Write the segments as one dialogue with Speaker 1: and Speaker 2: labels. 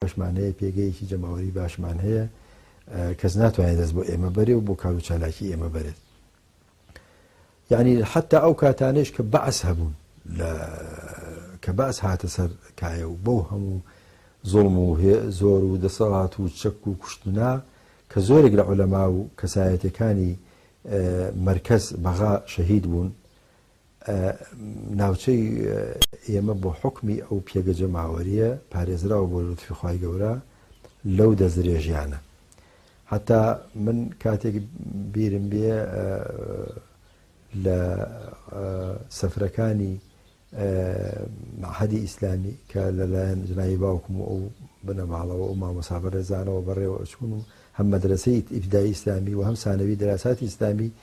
Speaker 1: باشمان هەیە، پێگەیەکی جەماوەری باشمان هەیە، کەس ناتوانێت دەست بۆ ئێمە بەرێ و بۆ کار و چالاکی ئێمە بەرێت. یانی حتا ئەو کاتانەیش کە بەعس هەبوون کە بەعس هاتە سەر کایە و بەو هەموو زۆڵم و زۆر و دەسەڵات و چەک و کوشتنا کە زۆرێک لە عولەما و کەسایەتەکانی مرکز بەغا شەهید بوون ناوچەی ئێمە بۆ حوکمی ئەو پێگە جەماوەریە پارێزراوە بۆ لوتفی خوای گەورە لەو دەستدرێژیانە هەتا من کاتێک بیرم بێ لە سەفرەکانی حەدی ئیسلامی کە لەلایەن جنایی باوکم و ئەو بنەماڵەوە و مامۆسابەرێزانەوە بەڕێوە ئەچون و هەم مەدرسەی ئیبدای ئیسلامی و هەم سانەوی درااساتی ئیسلامی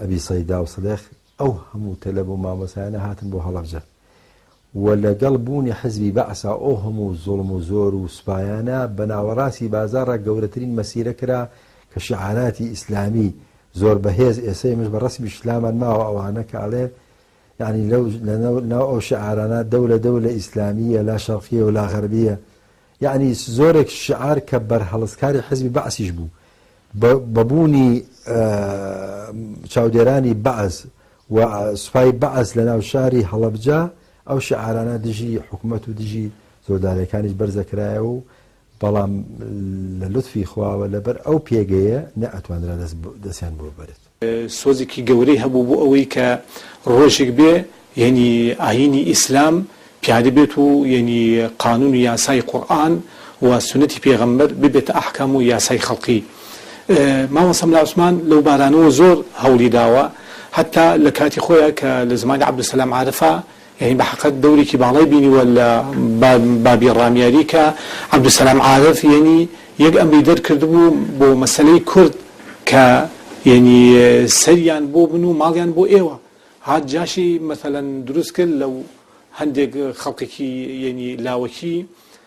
Speaker 1: ئەبی سەیدا و سدق، ئەو هەموو تەلەب و مامۆستایانە هاتن بۆ هەڵەبجە و لە گەڵ بوونی حزبی بەعسا ئەو هەموو زوڵم و زۆر و سوپایانە بە ناوەڕاستی بازاڕا گەورەترین مەسیرە کرا کە شیعاراتی ئیسلامی زۆر بە هێز ئێسە ئێمەش بە ڕەسمی شلامان ماوە ئەوانە کە ئەڵێن یانی لەو لە ناو ئەو شیعارانە دەولە دەولە ئیسلامیە لا شەڕقیە و لا غەربیە یەعنی زۆرێک شیعار کە بەرهەڵستکاری حیزبی بەعسیش بوو بە بوونی چاودێرانی بەعس و سوپای بەعس لە ناو شاری هەڵەبجە ئەو شیعارانە دژی حکوومەت و دژی زۆردارەکانیش بەرزەکرایە و بەڵام لە لوتفی خواوە لەبەر ئەو پێگەیە نە ئەتوانرا دەستیان بۆ بەرێت. سۆزێکی گەورەی
Speaker 2: هەبوو بۆ ئەوەی کە ڕۆژێک بێ یەنی ئایینی ئیسلام پیادە بێت و یەنی قانون و یاسای قورئان و سوننەتی پێغەمبەر ببێتە ئەحکام و یاسای خەڵقی. مامە سەملا عوسمان لەو بارانەوە زۆر هەوڵی داوە هەتا لە کاتی خۆیا کە لە زەمانی عەبدولسەلام عارفا یانی بەحەقە دەورێکی باڵای بینیوە لە بابی ڕامیاری کە عەبدولسەلام عارف یانی یەک ئەمری دەرکردبوو بۆ مەسەلەی کورد کە یانی سەریان بۆ بن و ماڵیان بۆ ئێوە هات جاشی مەسەلەن دروست کرد لەو هەندێک خەڵکێکی یانی لاوەکی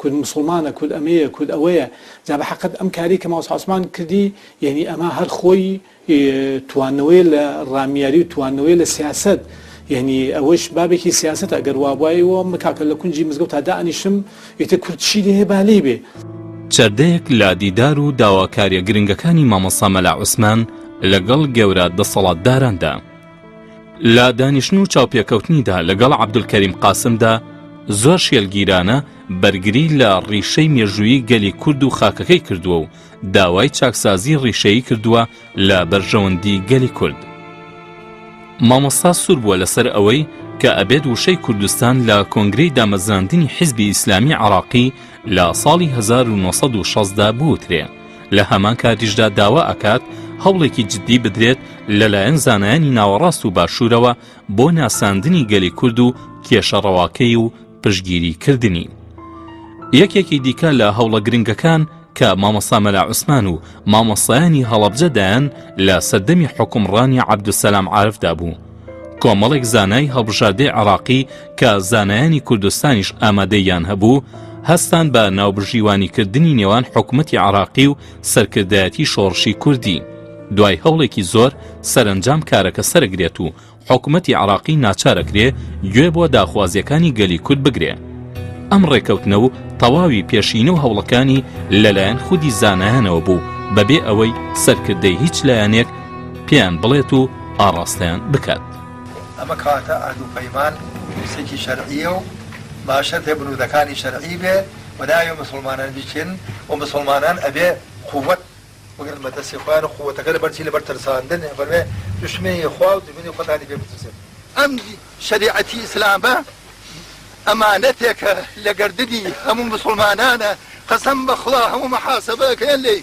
Speaker 2: کورد موسڵمانە کورد ئەمەیە کورد ئەوەیە جا بە حەقت ئەم کارەی کە مامۆستا عوسمان کردی یەنی ئەمە هەر خۆی توانەوەی لە ڕامیاری و توانەوەی لە سیاسەت یعنی ئەوەش بابێکی سیاست ئەگەر وابوایەوە مکاکە لە کونجی مزگەوت تا دانیشم ئیتە کوردشی لێ بالی بێ. چەردەیەک
Speaker 3: لە دیدار و داواکاریە گرنگەکانی مامۆسا مەلا عوسمان لەگەڵ گەورە دەسەڵاتداراندا. لە دانیشتن و چاوپێکەوتنیدا لەگەڵ عەبدولکەریم قاسمدا زۆر شێلگیرانە بەرگری لە ڕیشەی مێژووی گەلی کورد و خاکەکەی کردووە و داوای چاکسازی ڕیشەیی کردووە لە بەرژەوەندی گەلی کورد مامۆستا سوور بووە لەسەر ئەوەی کە ئەبێت وشەی کوردستان لە کۆنگرەی دامەزراندنی حیزبی ئیسلامی عراقی لە ساڵی 1960دا بوترێ لە هەمان کاتیشدا داوا ئەکات هەوڵێکی جددی بدرێت لەلایەن زانایانی ناوەڕاست و باشوورەوە بۆ ناساندنی گەلی کورد و کێشە ڕەواکەی و پشگیری کردنی. یەکێکی دیکە لە هەوڵە گرنگەکان کە مامۆستا مەلا عوسمان و مامۆسایانی هەڵەبجە دایان لە سەردەمی حکومڕانی عەبدوسەلام عارفدا بوو کۆمەڵێک زانای هەڵبژاردەی عراقی کە زانایانی کوردستانیش ئامادەییان هەبوو هەستان بە ناوبژیوانیکردنی نێوان حکومەتی عراقی و سەرکردایەتی شۆڕشی کوردی دوای هەوڵێکی زۆر سەرنجام کارەکە سەرگرێت و حکومەتی عراقی ناچارەکرێ گوێ بۆ داخوازیەکانی گەلی کورد بگرێ ئەم ڕێکەوتنە و تەواوی پێشینە و هەوڵەکانی لەلایەن خودی زانایانەوە بوو بەبێ ئەوەی سەرکردەی هیچ لایەنێک پێیان بڵێت و ئاڕاستەیان بکات ئەمە کەواتە
Speaker 4: عەهد و پەیمان پرسێکی شەرعییە و با شەرتێ بنوودەکانی شەرعی بێ و نابێ موسڵمانان بیکێن و موسڵمانان ئەبێ قووەت بگرن بە دەستی خۆیان و قووەتەکە لەبەر چی؟ لەبەر ترساندن، فەرموێ دوشمنی خوا و دوشمنی خۆتانی پێ بترسن. ئەم شەریعەتی ئیسلامە ئەمانەتێکە لە گەردنی هەموو موسڵمانانە، قەسەم بە خوا هەموو محاسەبە ئەکرێن لێی.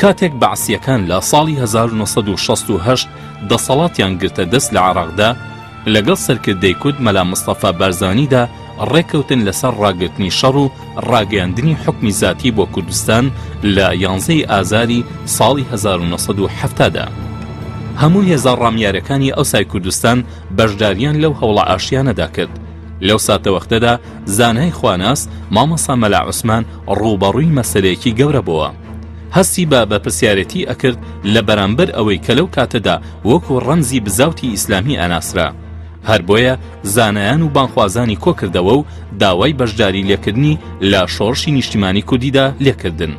Speaker 3: کاتێک بەعسییەکان لە ساڵی هەزار و نۆ سەد و شەست و هەشت دەسەڵاتیان گرتە دەست لە عێراقدا، لەگەڵ سەرکردەی کورد مەلا مستەفا بارزانیدا ڕێککەوتن لەسەر ڕاگرتنی شەڕ و ڕاگەیاندنی حوکمی زاتی بۆ کوردستان لە یانزەی ئازاری ساڵی هەزار و نۆ سەد و حەفتا دا. هەموو هێزە ڕامیارەکانی ئەوسای کوردستان بەشدارییان لەو هەوڵە ئاشتیانەدا کرد. لەو ساتەوەختەدا زانای خواناس مامۆسا مەلا عوسمان ڕووبەڕووی مەسەلەیەکی گەورە بۆوە هەستی بە بە پرسیارەتی ئەکرد لە بەرامبەر ئەوەی کە لەو کاتەدا وەکو ڕەمزی بزاوتی ئیسلامی ئەناسرا هەر بۆیە زانایان و بانخوازانی کۆکردەوە و داوای بەشداری لێکردنی لە شۆڕشی نیشتیمانی کوردیدا لێکردن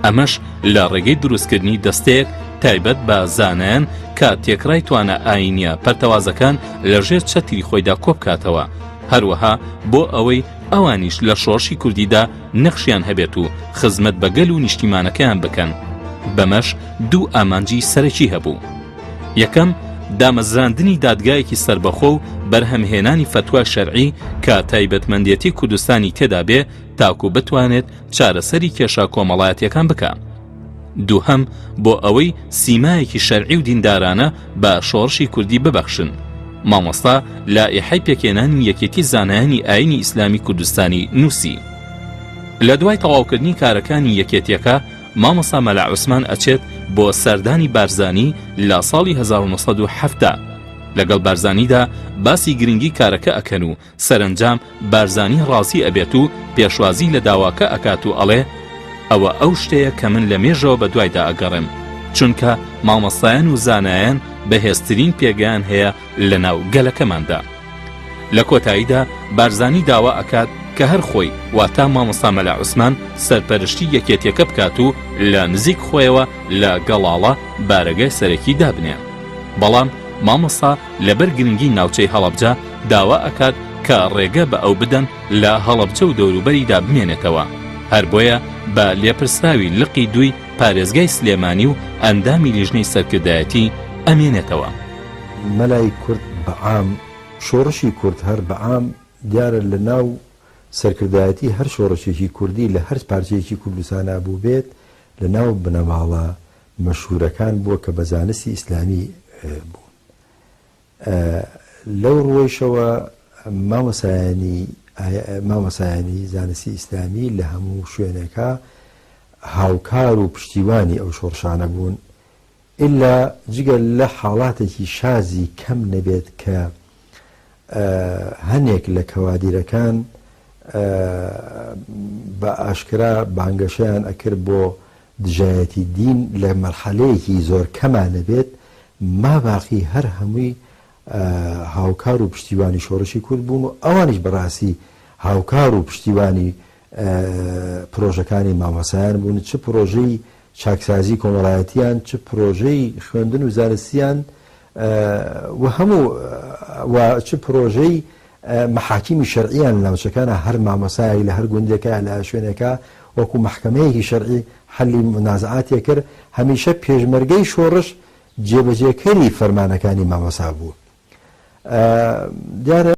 Speaker 3: ئەمەش لە ڕێگەی دروستکردنی دەستەیەک تایبەت بە زانایان کە تێکڕای توانە ئاینیە پەرتەوازەکان لە ژێر چەتری خۆیدا کۆبکاتەوە هەروەها بۆ ئەوەی ئەوانیش لە شۆڕشی کوردیدا نەخشیان هەبێت و خزمەت بە گەل و نیشتیمانەکەیان بکەن بەمەش دوو ئامانجی سەرەکی هەبوو یەکەم دامەزراندنی دادگایەکی سربەخۆ و بەرهەمهێنانی فتوای شەرعی کە تایبەتمەندێتی کوردستانی تێدا بێ تاکو بتوانێت چارەسەری کێشە کۆمەڵایەتیەکان بکە. دووهەم بۆ ئەوەی سیمایەکی شەرعی و دیندارانە بە شۆڕشی کوردی ببەخشن مامۆستا لا ئیحەی پێکێنانی یەکێتی زانایانی ئاینی ئیسلامی کوردستانی نووسی لە دوای تەواوکردنی کارەکانی یەکێتیەکە مامۆسا مەلا عوسمان ئەچێت بۆ سەردانی بارزانی لە ساڵی 1970 لەگەڵ بارزانیدا باسی گرنگی کارەکە ئەکەن و سەرەنجام بارزانی ڕازی ئەبێت و پێشوازی لە داواکە ئەکات و ئەڵێ، ئەوە ئەو شتەیە کە من لە مێژەوە بە دوایدا ئەگەڕێم، چونکە مامۆستایان و زانایان بەهێزترین پێگەیان هەیە لە ناو گەلەکەماندا. لە کۆتاییدا بارزانی داوا ئەکات کە هەر خۆی واتە مامۆستا مەلا عوسمان سەرپەرشتی یەکێتیەکە بکات و لە نزیک خۆیەوە لە گەڵاڵە بارەگای سەرەکی دابنێ. بەڵام مامۆستا لەبەر گرنگی ناوچەی هەڵەبجە، داوا ئەکات کە ڕێگە بە ئەو بدەن لە هەڵەبجە و دەوروبەریدا بمێنێتەوە، هەر بۆیە بە لێپرسراوی لقی دووی پارێزگای سلێمانی و ئەندامی لیژنەی سەرکردایەتی ئەمێنێتەوە. مەلای
Speaker 1: کورد بە عام، شۆڕشی کورد هەر بە عام، دیارە لە ناو سەرکردایەتی هەر شۆڕشێکی کوردی لە هەر پارچەیەکی کوردستانا بووبێت لە ناو بنەماڵە مەشهوورەکان بووە کە بە زانستی ئیسلامی بوون. لەو ڕووەیشەوە مامۆستایانی مامۆستایانی زانستی ئیسلامی لە هەموو شوێنێکا هاوکار و پشتیوانی ئەو شۆڕشانە بوون ئیلا جگە لە حاڵاتێکی شازی کەم نەبێت کە هەنێک لە کەوادیرەکان بە ئاشکرا بانگەشەیان ئەکرد بۆ دژایەتی دین لە مەرحەلەیەکی زۆر کەما نەبێت، ماباقی هەر هەمووی هاوکار و پشتیوانی شۆڕشی کورد بوون و ئەوانیش بە ڕاستی هاوکار و پشتیوانی پرۆژەکانی مامۆستایان بوون، چ پرۆژەی چاکسازی کۆمەڵایەتییان، چ پرۆژەی خوێندن و زانستییان و هەموو و چ پرۆژەی مەحاکیمی شەرعییان لە ناوچەکانە، هەر مامۆستایەک لە هەر گوندێکە، لە هەر شوێنێکە، وەکوو مەحکەمەیەکی شەرعی حەلی مونازەعاتی کرد، هەمیشە پێشمەرگەی شۆڕش جێبەجێکەری فەرمانەکانی مامۆستا بوو. دیارە.